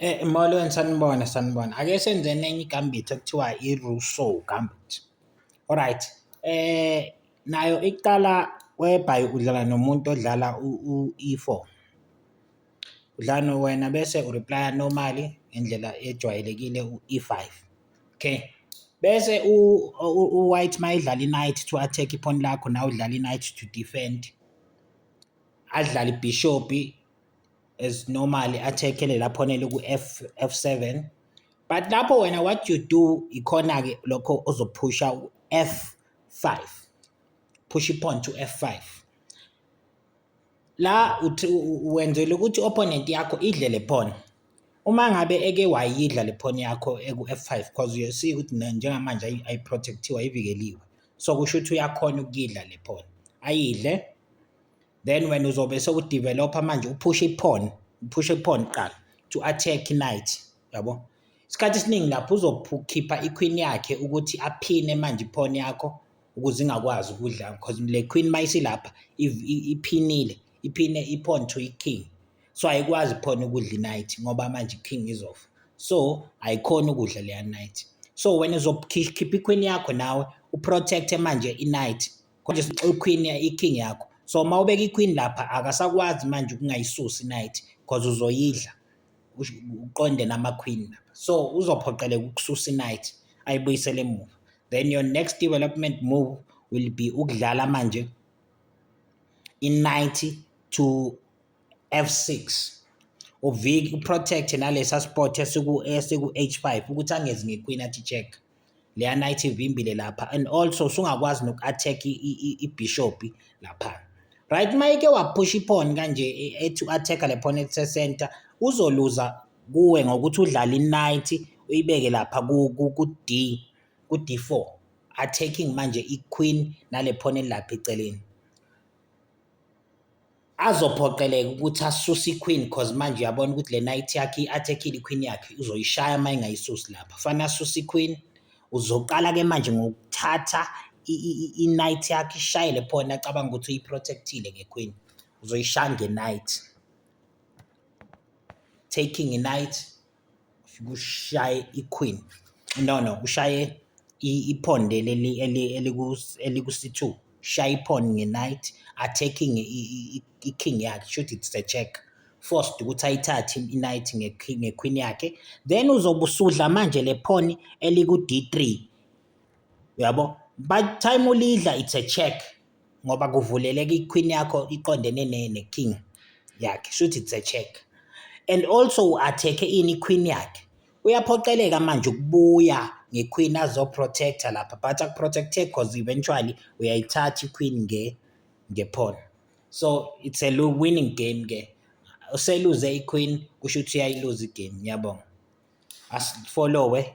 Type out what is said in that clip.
Eh, molweni sanibona sanibona ake senzeni enye igambit ekuthiwa i-rusow gambit alright eh nayo iqala webhayi udlala nomuntu odlala u-e4 udlala wena bese ureplya normally ngendlela ejwayelekile u-e5 okay bese u-white uma idlala i-night to attack iphoni lakho nawe udlala i-night to defend adlale ibhishopi as normally athekele laphona eliku F F7 but lapho wena what you do ikhona ke lokho ozophusha u F5 push ipawn to F5 la uthi wenzele ukuthi opponent yakho idle le pawn uma ngabe eke wayidla le pawn yakho eku F5 because you see ukuthi njengamanje ayi protectiwe ayivikeliwe so kusho ukuthi uyakhona ukuyidla le pawn ayidle then wena uzobe sewudevelopha manje uphushe iphone uphushe iphone kuqala to attack knight yabo isikhathi esiningi lapho uzokhipha iqueen yakhe ukuthi aphine manje iphone yakho ukuze ingakwazi ukudla because le queen mayisilapha iphinile iphine iphone to iking so ayikwazi iphone ukudla iknight ngoba manje iking izofa so ayikhona ukudla leya knight so wena uzokhipha iqueen yakho nawe uprotecte manje iknight konje sixoxa iqueen iking yakho so uma ubeka iqueen lapha akasakwazi manje ukungayisusi night because uzoyidla uqonde nama-queen lapha so uzophoqeleka ukususa inight ayibuyisele emuva then your next development move will be ukudlala manje i-90 to f6 uvike uprotect nalesa spot esiku-h5 ukuthi angezi ngequeen athi check leya night ivimbile lapha and also usungakwazi noku-attack ibhishobhi lapha right uma ike waphusha iphoni kanje e, ethi u-attack le phone ethe center uzoluza kuwe ngokuthi udlale i-night uyibeke lapha ku-d ku-d4 attacking manje i-queen nale phone elilapha eceleni azophoqeleka ukuthi asuse iqueen cause manje uyabona ukuthi le night yakhe i-attackile iqueen yakhe uzoyishaya uma engayisusi lapha fanele asuse iqueen uzoqala-ke manje ngokuthatha i-night yakhe ishayele phona acabanga ukuthi uyiprotectile ngequeen uzoyishaya nge-night taking i-night kushaye iQueen no no kushaye iPawn leli eliku-C2 shaye iPawn nge-knight attacking iKing yakhe shuthi it's a check forced ukuthi ayithathe i-knight ngeQueen yakhe then uzobe usudla manje le pawn eliku-D3 uyabo by the time ulidla it's a check. ngoba kuvuleleka iqueen yakho iqondene ne ne king yakhe shuthi it's a check and also u attack ini queen yakhe uyaphoqeleka manje ukubuya ngequeen azo protector lapha but aku protecte because eventually uyayithatha iqueen nge nge pawn so it's a winning game ke useluze iqueen kusho ukuthi uyayiluza igame ngiyabonga asifollowe